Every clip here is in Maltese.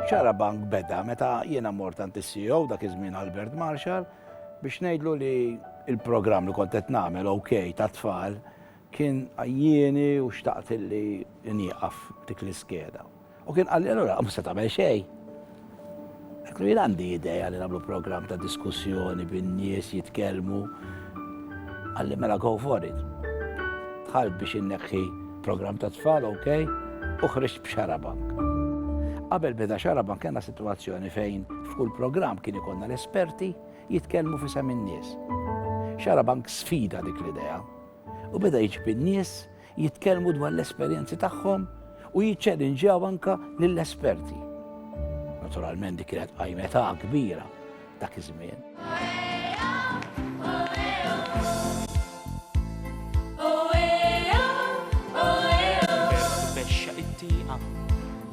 Xarabank beda meta jiena mort għand is-CEO dak iż-żmien Albert Marshall biex ngħidlu li il-programm li kont qed nagħmel OK tat-tfal kien għajjieni u xtaqt li nieqaf dik l-iskeda. U kien qalli allura mhux se tagħmel xejn. Għetlu jien għandi ideja li nagħmlu programm ta' diskussjoni bin-nies jitkellmu. Għalli mela go for it. Tħalt biex inneħħi programm ta' tfal, ok, u ħriġt b'xarabank. Qabel beda xarabank kena situazzjoni fejn f'kull programm kien ikonna l-esperti jitkellmu fi sem in-nies. Xarabank sfida dik l-idea u beda jiġbi n-nies jitkellmu dwar l-esperjenzi tagħhom u jiċċelinġjaw anke lill-esperti. Naturalment dik kienet qajmetha kbira dak iż-żmien.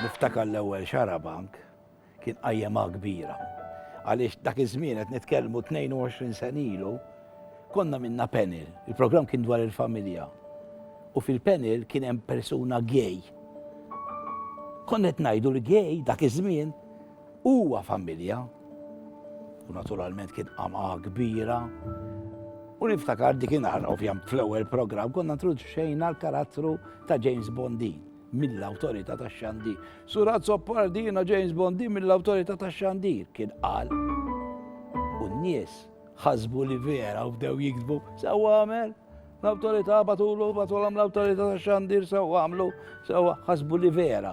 Niftakar l-ewwel xarabank kien qajjemha kbira. Għaliex dak iż-żmien qed nitkellmu 22 sen ilu, konna minna panel. Il-programm kien dwar il-familja. U fil-panel kien hemm persuna gay. Konna qed ngħidu l-gay dak iż-żmien Huwa familja, u naturalment kien qamqa kbira, U niftakar dikinhar, ovvjam, fl-ewwel programm konna introduċejna l-karattru ta' James Bondi mill-awtorità ta' xandi. Surat Soppardina James Bondi mill-awtorità ta' xandi kien qal. U n-nies ħasbu li vera u bdew jiktbu sewwa għamel l-awtorità batulu batulhom l-awtorità ta' xandir sewwa għamlu sewwa ħasbu li vera.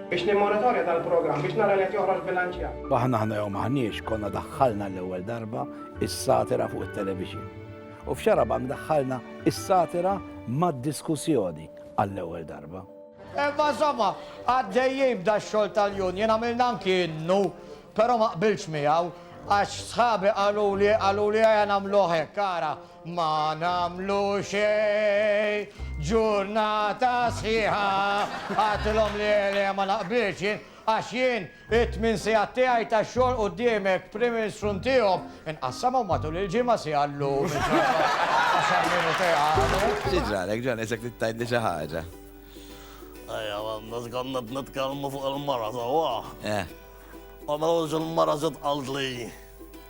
Biex nimmonitorja dal-programm biex nara li qed joħroġ bilanċjat. Aħna aħna jew m'aħniex konna daħħalna l-ewwel darba is-satira fuq it-televixin. U f'Xarabank daħħalna is-satira mad-diskussjoni għall-ewwel darba. Imma insomma, għaddejjin b'da x-xogħol tal-union għamilna anki innu, però ma qbiltx miegħu għax sħabi qaluli qaluli ejja nagħmluh hekk ara. Ma nagħmlu xejn, ġurnata sħiħa. Għidtilhom li le ma naqbilx jien, għax jien it-tmien sigħat tiegħi ta' xogħol quddiemek, Prim Ministru ntihom, inqassamhom matul il-ġimgħa siegħa llum, għaxar minuti għada. Xi ġralek John, isek trid tgħidli xi ħaġa? Ejja, għandna konna qed nitkellmu fuq il-mara sewwa. Eh. U mewġ il-mara ġiet qaltli.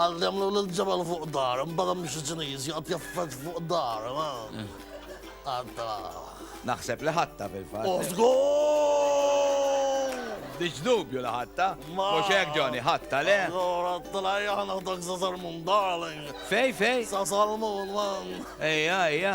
Għallimlu lil ġebel fuq dar, imbagħad hemm xi Ċiniż joqgħod jaffaġġ fuq dar. Għadda. Naħseb li ħatta fil-fatt. U żgur! Biex dubju li ħatta. Mhux hekk Johnny, ħatta le. Allora tlejja ħanaħdak sa Salmun darling. Fej, fej? Sa Salmun, man. Ejja, ejja.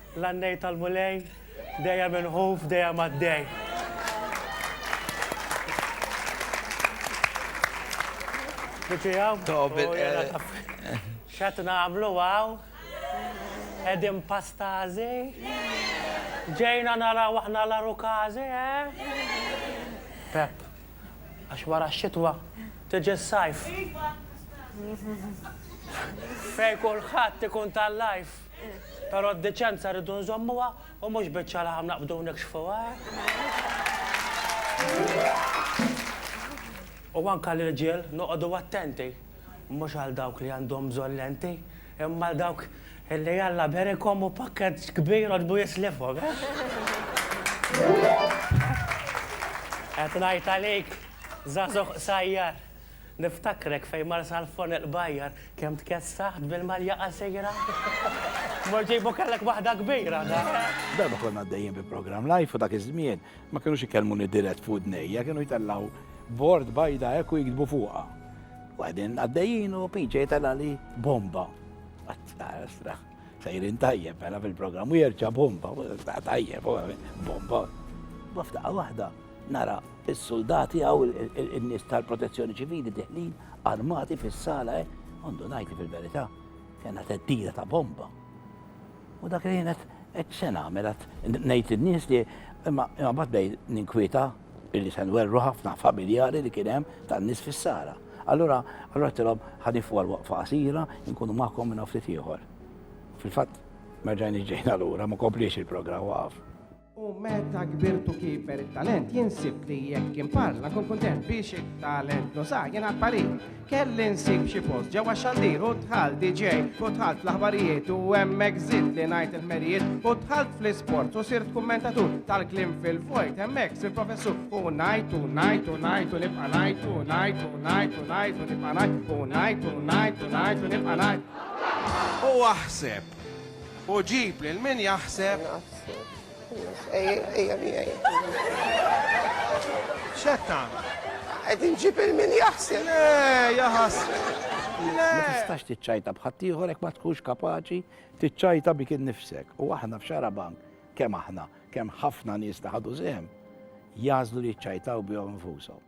L-għannejn tal-Mulej, dejjem inħuf, dejjem għaddej. Biċi għaw? Tobin. Xat namlu għaw? Edin pastazi? Ġejna nara waħna la rukazi, eh? Pep, għax wara xitwa, tiġi s-sajf. Fej kullħat tikun tal-lajf. Però d-deċenza rridu nżommuha u mhux biċċa laħam naqbdu u nikxfuha, eh? U anke l-irġiel noqogħdu attenti, mhux għal dawk li għandhom bżonn lenti, imma għal dawk li Alla berikhom u pakkett kbir għodbu jislifhom, eh? Qed ngħid għalik, żagħżugħ qsajjar. Niftakrek fejn mar Salfon il-Qbajjar kemm tkessaħt bil-malja qasira. Mort ġej bo kellek waħda kbira, da. Darba konna għaddejjin bi programm live u dak iż-żmien ma kinux ikellmuni dirett f'widnejja, kienu jtellgħu bord bajda hekk u jiktbu fuqha. U qegħdin għaddejjin u Pinċa jitellgħali bomba. Qatt tara straħ. Sejrin tajjeb, mela fil-programm u jerġa' bomba, tajjeb, bomba. Baftaqa waħda, nara il-soldati għaw il-nis tal-protezzjoni ċivili diħlin armati fis-sala, eh? għandu najti fil-verità, kena teddida ta' bomba. U dak li jenet, et sena għamilat, nejt il-nis li, imma bat bej ninkwieta, Illi se nwerru ħafna familjari li kien hemm tan-nies fis-sara. Allura, allura tilhom ħanifu għal waqfa qasira, inkunu magħkom minn ftit ieħor. Fil-fatt, merġajni ġejna lura, ma kompliex il-programm waqaf. U meta kbirtu kiber it-talent, jinsib li jekk kien parla, kun kuntent biex it-talent nuża, jien għad parir. Kelli nsib xi post ġewwa xandir u dħal DJ u dħalt fl-aħbarijiet u hemmhekk żid li ngħid il-ħmerijiet u dħalt fl-isport u sirt kummentatur tal-klim fil-vojt hemmhekk sir professur u ngħid u ngħid u ngħid u nibqa' ngħid u ngħid u ngħid u ngħid u nibqa' ngħid u ngħid u ngħid u ngħid u nibqa' ngħid. U aħseb u ġib lil min jaħseb Ejja miegħi. X'qed tagħmel? Qed inġib il-min jaħseb. Le, jaħas. Ma tistax tiċċajta bħaddieħor hekk ma tkunx kapaċi tiċċajta bik innifsek. U aħna f'xara bank kemm aħna, kemm ħafna nies ta' ħadu sehem, jażlu li jċajtaw bihom infushom.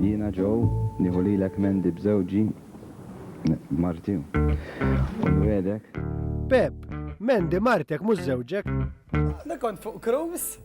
Jiena ġew nieħu lilek Mandy b'żewġi marti. U nwegħdek. Pep, Mandy martek mhux żewġek. Li kont fuq cruise?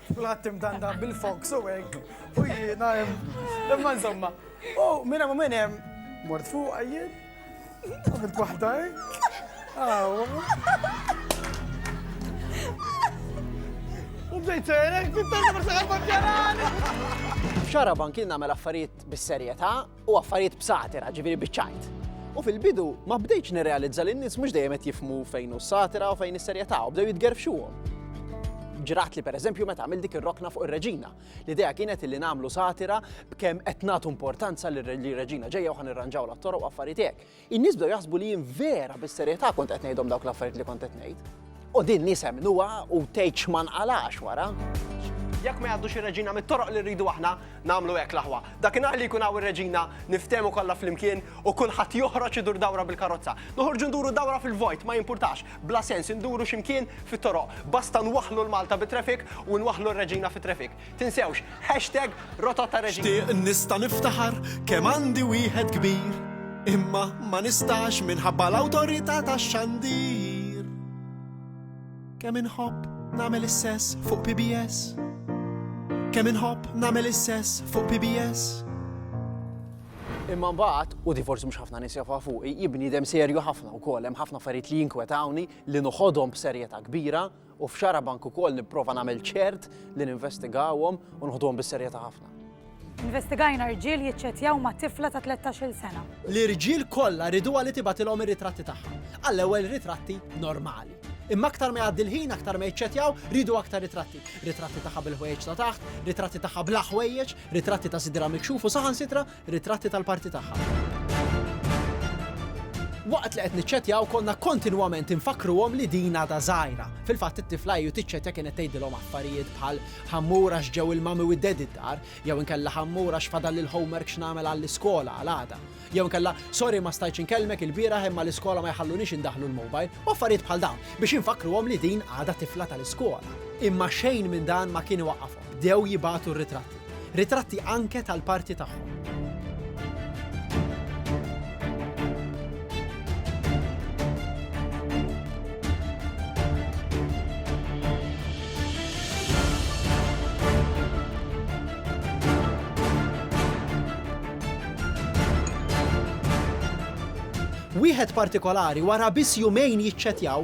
Kulħadd imdanda bil-fox u hekk, u jiena hemm. Imma insomma, u minn hemm u minn hemm mort fuq jien, għamilt waħda U bdejt serek, fit-tarda ma saħal ma Xaraban kien nagħmel affarijiet bis-serjetà, u affarijiet b'satira, ġifieri biċ-ċajt. U fil-bidu ma bdejtx nirrealizza li n-nies mhux dejjem qed jifmu fejn hu satira u fejn is-serjetà u bdew jitgerfxuhom. Ġrat li pereżempju meta għamil dik ir-rokna fuq ir-Reġina. L-idea kienet li nagħmlu satira b'kemm qed nagħtu importanza li r-Reġina ġejja u ħanirranġaw l-attoroq u affarijiet hekk. In-nies bdew jaħsbu li jien vera bis-serjetà kont qed ngħidhom dawk l-affarijiet li kont qed ngħid. U din nies emmnuha u tgħid x'ma nqalax wara. Jekk ma jgħaddux ir-Reġina mit-toroq li rridu aħna, nagħmlu hekk l-aħwa. Dakinhar li jkun hawn ir-Reġina, niftehmu kollha flimkien u kulħadd joħroġ idur dawra bil-karozza. Noħorġu nduru dawra fil-vojt, ma jimpurtax, bla sens, induru xi mkien fit-toroq. Basta nwaħħlu l-Malta bit-traffic u nwaħħlu r-Reġina fit-traffic. Tinsewx, hashtag Rotot ta' Reġina. Xtieq nista' niftaħar kemm għandi wieħed kbir, imma ma nistax minħabba l-awtorità tax-xandir. Kemm inħobb nagħmel is-sess fuq PBS. Kemm inħobb nagħmel is-sess fuq PBS. Imma mbagħad, u di forsi mhux ħafna nies jafa fuqi, jibni dem serju ħafna wkoll hemm ħafna affarijiet li jinkwetawni li noħodhom b'serjetà kbira. u f'Xarabank ukoll nipprova nagħmel ċert li ninvestigawhom u nħoduhom bis-serjetà ħafna. Investigajna rġiel jiċċettjaw ma' tifla ta' 13-il sena. L-irġiel kollha riduha li tibgħatilhom ir-ritratti tagħha. Għall-ewwel ritratti normali. Imma aktar ma jgħaddi l-ħin aktar ma jiċċettjaw riedu aktar ritratti. Ritratti tagħha bil-ħwejjeġ ta' taħt, ritratti tagħha bla ħwejjeġ, ritratti ta' sidra mikxuf u saħansitra Ritratti tal-parti tagħha. Waqt li qed niċċettjaw konna kontinwament infakkruhom li din għadha żgħira. Fil-fatt it-tifla hi u tiċċettja kienet tgħidilhom affarijiet bħal ħammur għax ġew il-mami u d-daddy d-dar, jew inkella ħammur għax fadalli l-homework x'nagħmel għall-iskola għal għada. Jew inkella sorry ma stajtx inkellmek il-bieraħ imma l-iskola ma jħalluniex indaħħlu l-mobile, u affarijiet bħal dawn biex infakkruhom li din għadha tifla tal-iskola. Imma xejn minn dan ma kien iwaqqafhom. Bdew jibagħtu r-ritratti. Ritratti anke tal-parti tagħhom. Wieħed partikolari wara biss jumejn jiċċettjaw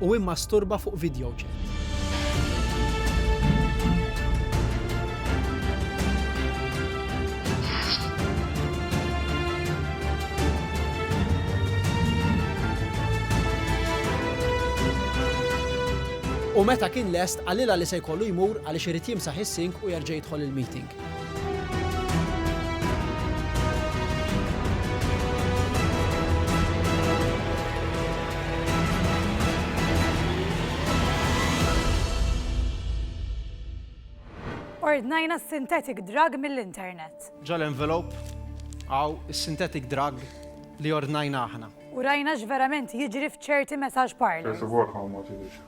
u immasturba fuq videochat. U meta kien lest qalilha li se jkollu jmur għaliex irid jimsaħ is-sink u jerġa' jidħol il-meeting. ordnajna synthetic drug mill-internet. Ġal-envelop għaw synthetic drug li ordnajna aħna. U rajna x'verament jiġri f'ċerti messaġġ parlors. First of all, how much is it?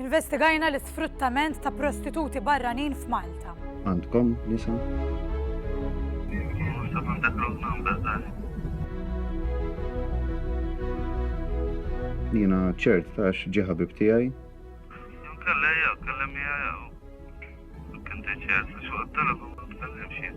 Investigajna l-isfruttament ta' prostituti barranin f'Malta. Għandkom nisa? Jiena ċert ta' x'ġi ħabib tiegħi. Kellejja, kellimni għajaw. Kinti ċert, xogħol telefon, tkellimx jien.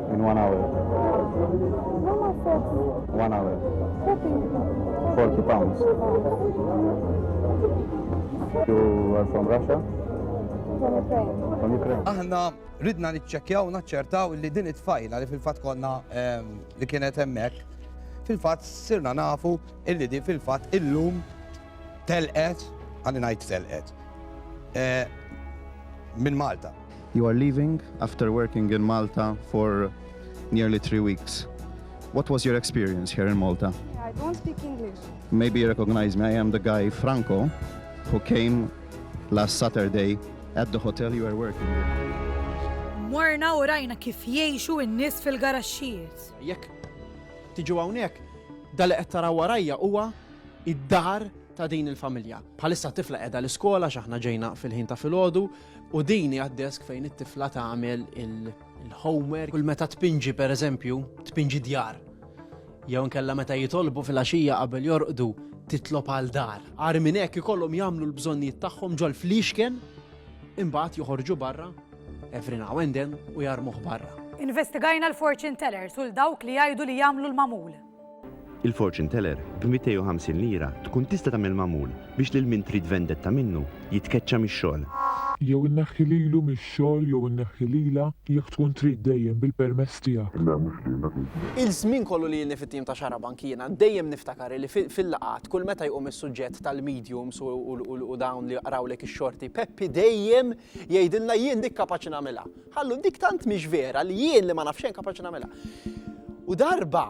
In one hour. One hour. 40 pounds. You are from Russia? From Ukraine. Aħna ridna niċċekkjaw naċċertaw li din it-tfajla li fil-fatt konna ehm, li kienet hemmhekk fil-fatt sirna nafu illi di fil-fatt illum telqet għalli ngħid telqet eh, minn Malta. You are leaving after working in Malta for nearly three weeks. What was your experience here in Malta? I don't speak English. Maybe you recognize me, I am the guy Franco who came last Saturday at the hotel you are working in. Morna u rajna kif jgħixu n-nies fil-garaxxijiet. Jekk tiġu hawnhekk, dal qed taraw warajja huwa id-dar ta' din il-familja. Bħalissa tifla qiegħda l-iskola x'aħna ġejna fil-ħin ta' filgħodu, U din hija desk fejn it-tifla tagħmel il-homework. Kull meta tpinġi pereżempju, tpinġi djar. Jew nkella meta jitolbu fil-għaxija qabel jorqdu titlob għal dar. Għar minn hekk ikollhom jagħmlu l-bżonnijiet tagħhom ġol fliexken imbagħad joħorġu barra every now and then u jarmuh barra. Investigajna l-fortune tellers u l-dawk li jgħidu li jagħmlu l-magħmul. Il-fortune teller b'250 lira tkun tista' tagħmel magħmul biex lil min trid vendetta minnu jitkeċċa mix-xogħol. Jew inneħħi lilu mix-xogħol jew inneħħi lilha jekk tkun trid dejjem bil-permess tiegħek. Le mhux din dak il-ġimgħa. Il-żmien kollu li ilni fit-tim ta' Xarabank jiena dejjem niftakar illi fil-laqgħat kull meta jqum is-suġġett tal-mediums u dawn li jaqrawlek ix-xorti Peppi dejjem jgħidilna jien dik kapaċi nagħmilha. Ħallu, dik tant mhix vera li jien li ma naf xejn kapaċi nagħmilha. U darba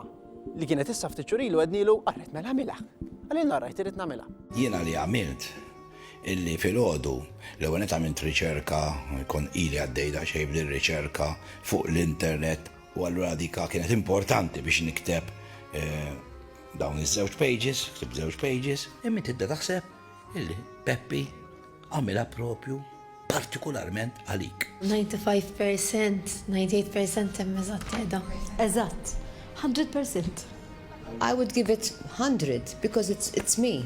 li kienet issa ftit xurilu għednilu, qarret mela għamilha. Għalil narrajt irid nagħmilha. Jiena li għamilt illi filgħodu l-ewwel net għamilt riċerka, kon ili għaddej daqsxejn b'din riċerka fuq l-internet u allura dik kienet importanti biex nikteb eh, dawn iż-żewġ pages, ktib żewġ pages, imma tibda taħseb Illi Peppi għamilha propju partikularment għalik. 95 percent, 98 percent hemm eżatt qiegħda. Eżatt, 100 percent. I would give it 100 because it's, it's me.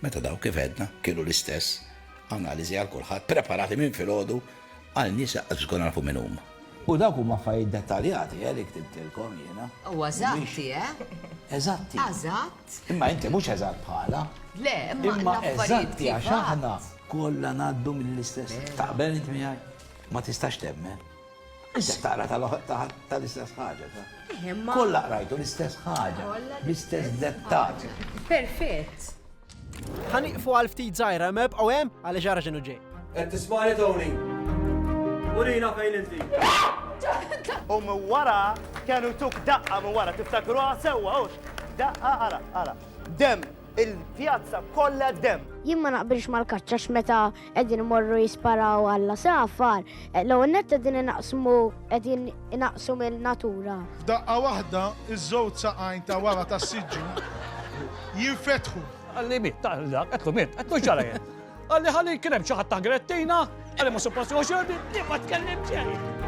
Meta daw kif edna kienu l-istess analiżi għal kulħadd preparati minn filgħodu għal nies żgur nafu minn huma. U dawk huma affarijiet dettaljati, eh, li ktibtilkom jiena. Huwa eżatti, eh? Eżatti. Eżatt. Imma inti mhux eżatt bħalha. Le, imma l-affarijiet. Imma eżatti għax aħna kollha ngħaddu mill-istess. Taqbel int miegħi? Ma tistax temmen. Inti taqra tal-istess ħaġa. Kollha qrajtu l-istess ħaġa, l-istess dettat. Perfett. Ħaniqfu għal ftit żgħira, meb u hemm għaliex ġara x'inhu ġej. Qed tismani Tony? Urina fejn inti. U minn wara kienu tuk daqqa minn wara tiftakruha sewwa hux. Daqqa ara, ara. Dem, il-pjazza kollha dem. Jien ma naqbilx mal-kaċċa x'meta qegħdin morru jisparaw alla safar, l-ewwel nett qegħdin inaqsmu qegħdin inaqsu mill-natura. F'daqqa waħda iż-żewġ saqajn ta' wara tas-siġġu jinfetħu. Qalli miet, taqla, qed miet, qed xara jien. Qal li ħalli kien hemm xi ħadd ta' Grettina, qal li ma suppost jieħu xorbi, jien ma tkellim xejn.